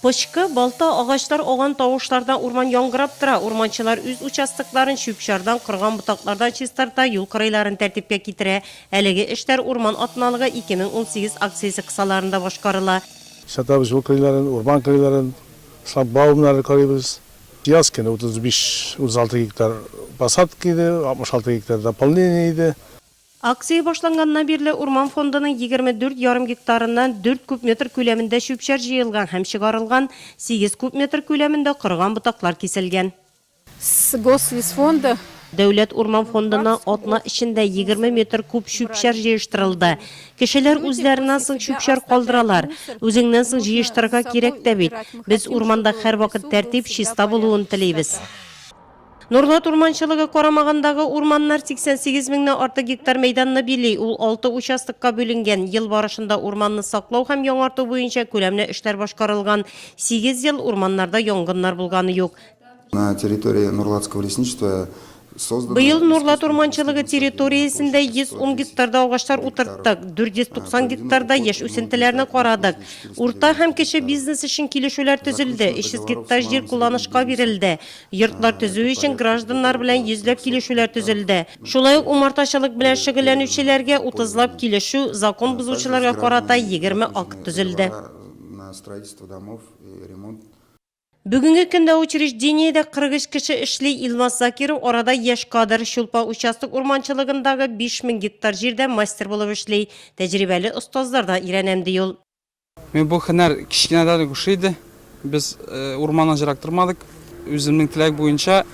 Пычкы, балта, агачлар ауган тавышлардан урман яңгырап тора. Урманчылар үз участокларын чүп-чардан, корган ботаклардан чистарта, юл кырыйларын тәртипкә китерә. Әлеге эшләр Урман атналыгы 2018 акциясе кысаларында башкарыла. Чистартабыз юл кырыйларын, урман кырыйларын, шлагбаумнарны карыйбыз. Яз көне 35-36 гектар посадка иде, 66 гектар дополнение иде. Акция башланганнан бирле урман фондының егерме дүрт ярым гектарыннан дүрт куб метр күләмендә чүп-чар җыелган һәм чыгарылган, сигез куб метр күләмендә корыган ботаклар киселгән. Сгослесфонда. Дәүләт урман фондына атна эчендә егерме метр куб чүп-чар җыештырылды. Кешеләр үзләреннән соң чүп-чар калдыралар. Үзеңнән соң җыештырырга кирәк тә бит. Без урманда һәрвакыт тәртип, чиста булуын телибез. Норлат урманчылыгы карамагындагы урманнар 88 меңнән артык гектар мәйданны били, ул алты участокка бүленгән. Ел барышында урманны саклау һәм яңарту буенча күләмле эшләр башкарылган. Сигез ел урманнарда янгыннар булганы юк. На территории Норлатского лесничества созданы Быел Норлат урманчылыгы территориясендә 110 гектарда агачлар утырттык, 490 гектарда яшь үсентеләрне карадык. Урта һәм кече бизнес өчен килешүләр төзелде, 300 гектар җир кулланышка бирелде. Йортлар төзү өчен гражданнар белән йөзләп килешүләр төзелде. Шулай ук умартачылык белән шөгыльләнүчеләргә утызлап килешү, закон бозучыларга карата егерме акт төзелде. Бүгенге көндә учреждениедә 43 кеше эшли, Илмас Закиров арада яшь кадр, Чулпа участок урманчылыгындагы 5000 гектар җирдә мастер булып эшли. Тәҗрибәле остазлардан өйрәнәм, ди ул. Мин бу хенәр кечкенәдән үк ошый иде. Без урманнан җырак тормадык. Үземнең теләк буенча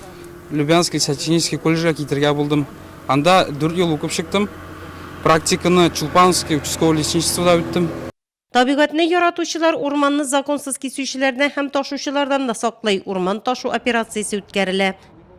Любянский сочинический колледжга китергә булдым. Анда дүрт ел укып чыктым. Практиканы Чулпановский участковый лесничествода үттем. Табигатьне яратучылар урманны законсыз кисүчеләрдән һәм ташучылардан да саклый, урман ташу операциясе үткәрелә.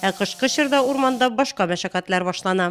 Ә кышкы чорда урманда башка мәшәкатьләр башлана.